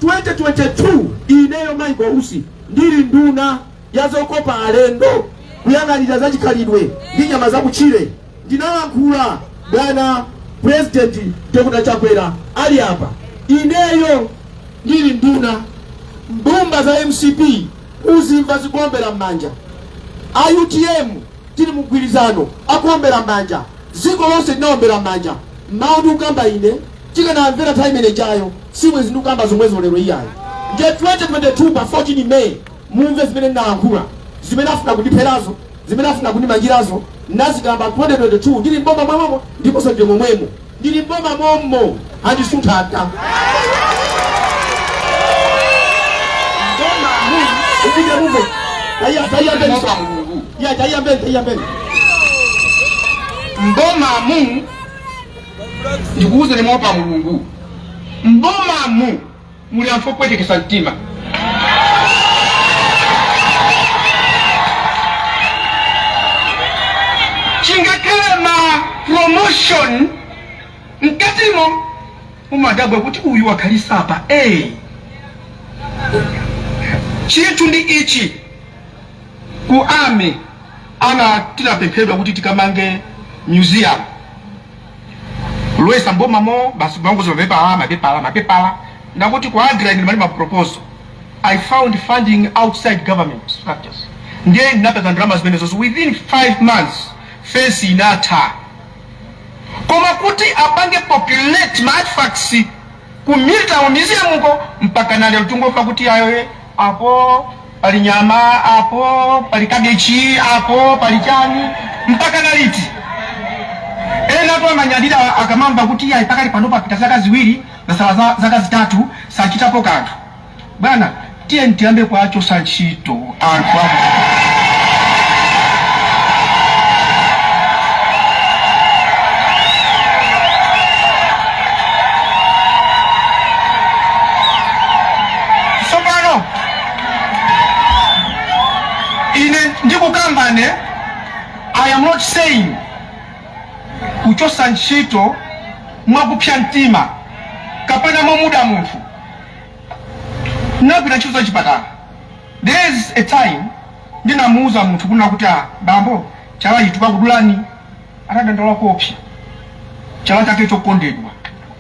2022 ineyo Michael Usi ndili nduna ya zokopa alendo kuyang'anira za chikhalidwe ndi nyama za kutchire ndinalankhula bwana president Dr. Chakwera ali apa ineyo ndili nduna mbumba za mcp muzimva zikuombera m'manja a utm tili mgwirizano akuombera m'manja dziko lonse linaombera m'manja mawu ndikukamba ine Tikanamvera time imene ijayo sibwenzi ndikukamba zomwezo lero iyayi. Ndiye 2022 pa 14 May mumve zimene ndinalankhula, zimene afuna kundipherazo, zimene afuna kundimangirazo ndinazikamba 2022 ndili m'boma momwemo ndiponso ndili momwemo. Ndili m'boma mommo andisuntha ata. Upite mumve. Taiya taiya mbele. Ya taiya mbele taiya mbele. Mbomamu ndikuwuzeni moopa mulungu mbomamu muli anthu opwetekesa mtima chingakhale ndi ma promotion mkatimo umadabwa kuti uyu wakhalisa apa hey. chinthu ndi ichi ku army ana tinapemphedwa kuti tikamange museum Loyesa mboma mo basi kumangoza mapepala mapepala mapepala ndangoti ku Agra ine ndimali maproposal I found funding outside government structures ndiye ndinapeza ndalama zimenezo within 5 months fence inatha koma kuti apange populate ma artifacts ku Military Museum uko, mpakana lero tingomva kuti ayo e, apo pali nyama, apo pali kabechi, apo pali chani. Mpakana liti? Ena tu amanyadira akamamva kuti ayi, pakali pano papita zaka ziwiri kwasala zaka zitatu sachitapo kanthu. Bwana tiyeni tiyambe kuwachosa ntchito anthu ah sopano ine ndikukamba ine i am not saying kuchosa ntchito mwakupsya mtima kapena momuda munthu Ndinagwira ntchito za chipatala. There is a time ndinamuuza munthu kunena kuti ah, bambo chala ichi tikakudulani. Atadandaula koopsya. Chala chake chokondedwa.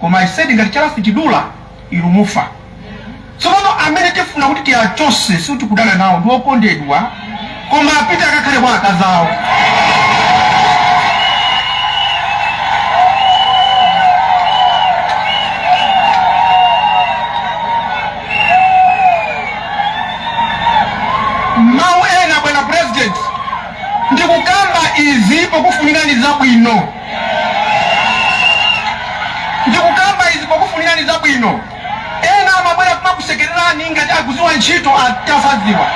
Koma I said ngati chala sichidula inu mufa. Tsopano amene tifuna kuti tiachose sikuti kudana nawo ndi okondedwa Koma apite akakhale kwa akazi awo. Mawu ena, bwana president, ndikukamba izi pokufunirani zabwino, ndikukamba izi pokufunirani zabwino. Ena amabwera kumakusekererani ngati akuziwa ntchito atasaziwa.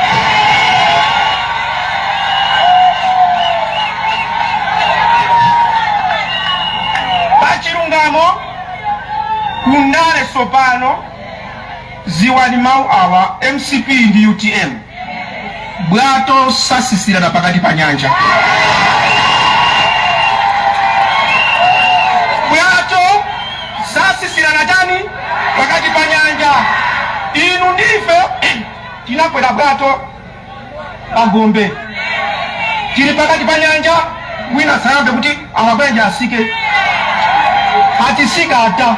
Pa chilungamo ku ndale sopano ziwani mau awa mcp ndi utm. bwato sasisirana pakati pa nyanja bwato sasisirana tani pakati pa nyanja inu ndife tinakwera bwato pagombe tili pakati pa nyanja wina sayambe kuti Amabanja asike hatisika hata.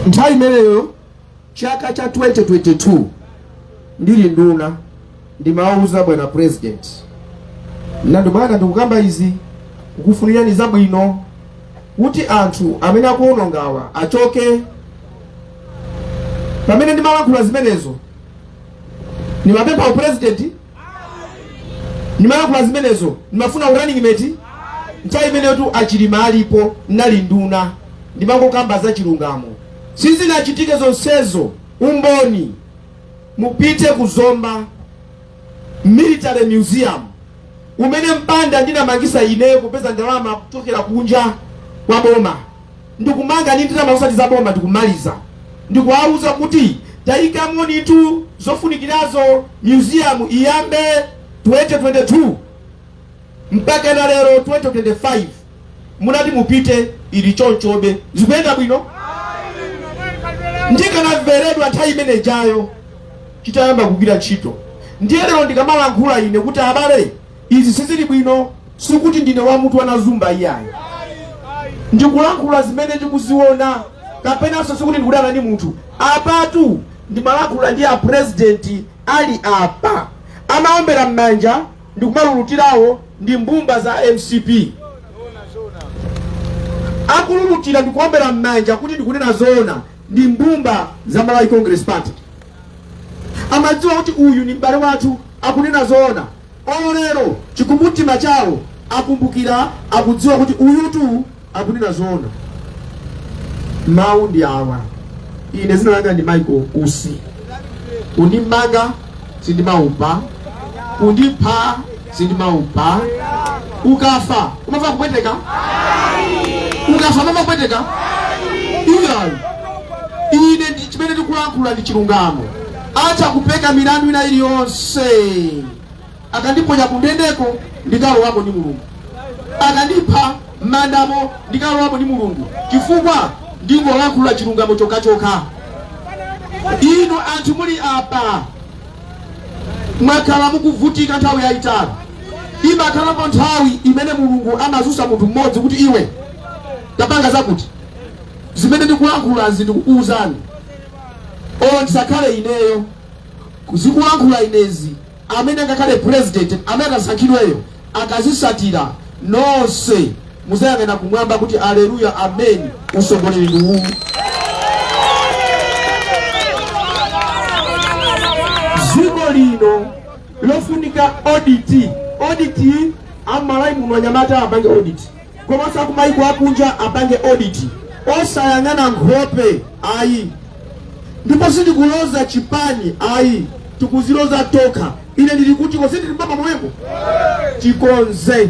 nthawi imeneyo chaka cha 2022 ndili nduna Ndimawuza bwana president ndati bwana ndikukamba izi kukufunirani zabwino kuti anthu amene akuwonongawa achoke. Pamene ndimalankhula zimenezo ndimapempha upresident, ndimalankhula zimenezo ndimafuna urunning mate nthawi imeneyotu achilima alipo nali nduna ndimangokamba za chilungamo sizinachitike zonsezo umboni mupite ku Zomba Military Museum umene mpanda ndinamangisa ineyo kupeza ndalama kuchokera kunja kwa boma ndikumanga ndi ndalama osati za boma ndikumaliza ndikuwauza kuti tayikamonitu zofunikirazo museum iyambe 2022 mpakana lero 2025 mutati mupite ili chonchobe zikuyenda bwino ndikanamveredwa nthawi imene jayo chitayamba kugwira ntchito ndiye lero ndikamalankhula ine kuti abale izi sizili bwino sikuti ndine wamutu wanazumba iyayi ndikulankhula zimene ndikuziona kapenanso sikuti ndikudana ndi munthu apatu ndimalankhula ndi apurezidenti ali apa amaombera m'manja ndikumalulutirawo ndi mbumba za mcp akululutira ndikuombera m'manja kuti ndikunena zoona ndi mbumba za malawi congress party amadziwa kuti uyu ni m'bale wathu akunena zoona olo lero chikumbumtima chawo akumbukira akudziwa kuti uyutu akunena zoona mawu ndi awa ine zina langa ndi michael usi kundimanga sindimaopa kundipha sindimaopa ukafa umava kupweteka ukafa umava kupweteka iyayi ine ndi chimene ndikulankhula ndi chilungamo atha kupeka milandu ina iliyonse akandiponya kundendeko ndikalowako ndi mulungu akandipha m'mandamo ndikalowamo ndi mulungu chifukwa ndingolankhula chilungamo chokhachoka inu anthu muli apa mwakhala mukuvutika nthawi yayitali imakhalapo nthawi imene mulungu amadzutsa munthu mmodzi kuti iwe tapanga zakuti zimene ndikulankhulazi ndikukuwuzani o ndisakhale ineyo ndikulankhula inezi amene angakhale president amene atasankhidweyo akazisatira nonse muzayang'ana kumwamba kuti aleluya amen usogoleri ndi uwu dziko lino lofunika audit audit amalawi muno anyamata apange audit komanso akumayiko akunja apange audit osayang'ana nkhope ayi ndipo sindikuloza chipani ayi tikuziloza tokha ine ndili kutiko sindili m'mavabvu momwemo tikonze